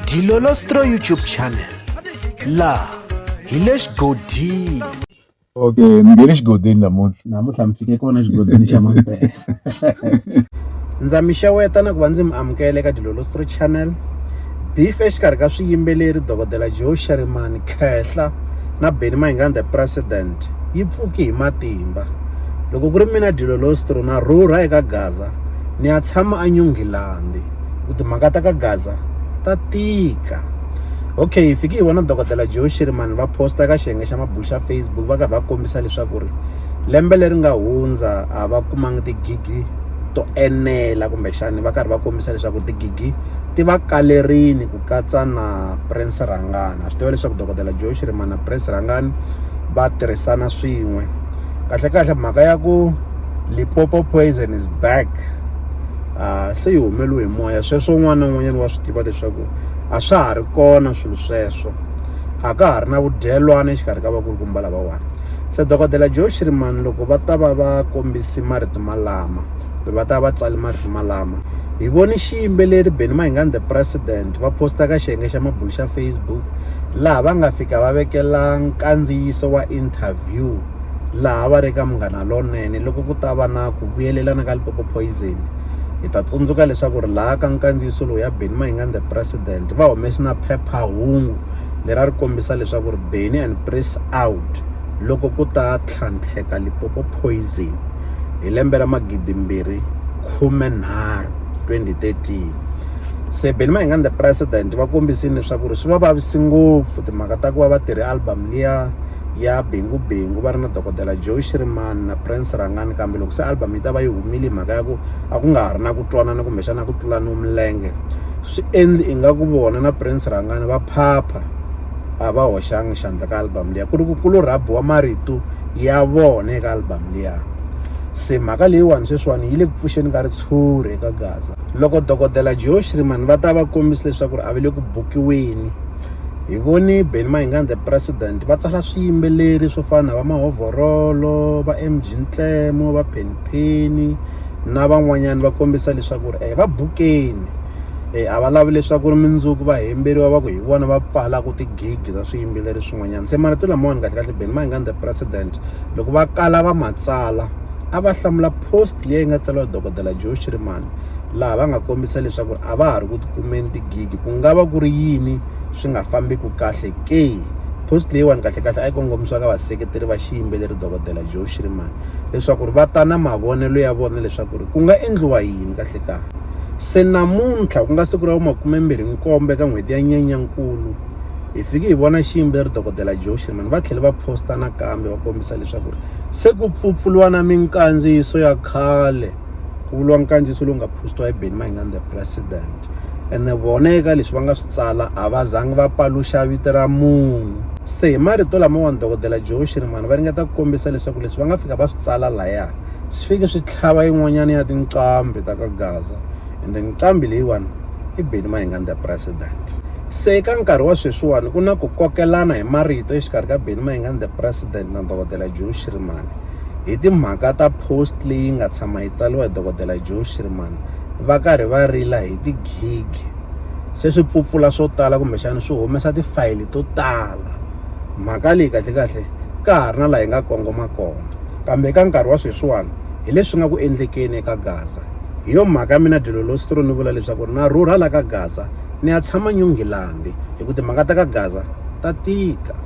Dilolostro YouTube channel la hi le xigodini okay mi nge le xigodini namuntlha namuntlha mi fike kona xigodini xa mampela ndza mi xeweta na ku va ndzi mi amukela eka dilolostro channel beef exikarhi ka swiyimbeleri dokodela joe sharimani khehla na beni mahingani the president yi pfuki hi matimba loko ku ri mina dilolostro na rhurha eka gaza ni ya tshama enyungilandi ku timhaka ta ka gaza ta tika okay hi fike hi vona dokodela joe shirimani va posta ka xiyenge xa mabulu xa facebook va karhi va kombisa leswaku ri lembe leri nga hundza a va kumanga tigigi to enela kumbexani va karhi va kombisa leswaku tigigi ti va kalerini ku katsa na prince rhangana swi tiva leswaku dokodela joe shirimani na prince rhangani va tirhisana swin'we kahlekahle mhaka ya ku lipopo poison is back se yi humeliwe hi moya sweswo un'wana na un'wanyana wa swi tiva leswaku a swa ha ri kona swilo sweswo a ka ha ri na vudyelwana exikarhi ka vakulukumba lavawani se dokodela joe shirimani loko va ta va va kombisi marito malama kumbe va ta va tsali marito malama hi voni xiyimbeleri benny mahingani the president va posta ka xiyenge xa mabulo xa facebook laha va nga fika va vekela nkandziyiso wa interview laha va ri ka Munghana Lonene loko ku ta va na ku vuyelelana ka Limpopo Poison hi ta tsundzuka leswaku ri laha ka nkandziyiso lowu ya Benny Mayengani the president va humesi na phephahungu leri a ri kombisa leswaku ri Benny and press out loko ku ta tlhantlheka Limpopo Poison hi lembe ra magidi mbirhi khume nharhu 2013 se Benny Mayengani the president va kombisile leswaku ri swi va vavisi ngopfu timhaka ta ku va va tirhe album liya ya Bengu Bengu va ri na dokodela Joe Shirimani na Prince Rhangani kambe loko se album yi ta va yi humile mhaka ya ku a ku nga ha ri na ku twanana kumbexana ku tlulaniwa milenge swi endli ingaku vona na Prince Rhangani va phapha a va hoxanga xandla ka album liya ku ri ku ku lo rhabiwa marito ya vona eka album liya se mhaka leyiwani sweswiwani yi le ku pfuxeni ka ritshuri eka gaza loko dokodela Joe Shirimani va ta va kombisa leswaku ri a va le ku bukiweni hi vone Benny Mayengani the president va tsala swiyimbeleri swo fana na va Mahovhorolo va M_G Ntlemo va Penny Penny na van'wanyana va kombisa leswaku ri va bukeni a va lavi leswaku ri mundzuku va hemberiwa va ku hi vona va pfalaka ti-gig ta swiyimbeleri swin'wanyana se marito lamawani kahle kahle Benny Mayengani the president loko va kala va ma tsala a va hlamula post leyi nga tsariwa hi dokodela Joe Shirimani. laha va nga kombisa leswaku a va ha ri ku tikumeni tigigi ku nga va ku ri yini swi nga fambiki kahle ke post leyiwani kahlekahle a yi kongomisiwa ka vaseketeri va xiyimbeleri dokodela joe shirimani leswaku ri va ta na mavonelo ya vona leswaku ri ku nga endliwa yini kahlekahle se namuntlha ku nga siku ra vumakumembirhi nkombo eka n'hweti ya nyenyankulu hi fike hi vona xiyimbeleri dokodela joe shirimani va tlhele va posta nakambe va kombisa leswaku ri se ku pfupfuliwa na minkandziyiso ya khale ku vuriwa nkandziyiso lowu nga post-iwa hi Benny Mayengani the president ene vona eka leswi va nga swi tsala a va zangi va paluxa vito ra munhu se hi marito lamawani dokodela joe shirimani va ringeta ku kombisa leswaku leswi va nga fika va swi tsala laya swi fike swi tlhava yin'wanyana ya tinqambi ta ka gaza ende nqambi leyiwani i Benny Mayengani the president se eka nkarhi wa sweswiwani ku na ku kokelana hi marito exikarhi ka Benny Mayengani the president na dokodela joe shirimani hi timhaka ta post leyi nga tshama yi tsariwa hi dokodela Joe Schirman va karhi va rila hi tigigi se swi pfupfula swo tala kumbexana swi humesa tifayili to tala mhaka leyi kahlekahle ka ha ri na laha yi nga kongoma kona kambe eka nkarhi wa sweswiwani hi leswi nga ku endlekeni eka gaza hi yo mhaka mina dyelo lo stro ni vula leswaku na rhurha la ka gaza ni ya tshama nyungilandi hi ku timhaka ta ka gaza ta tika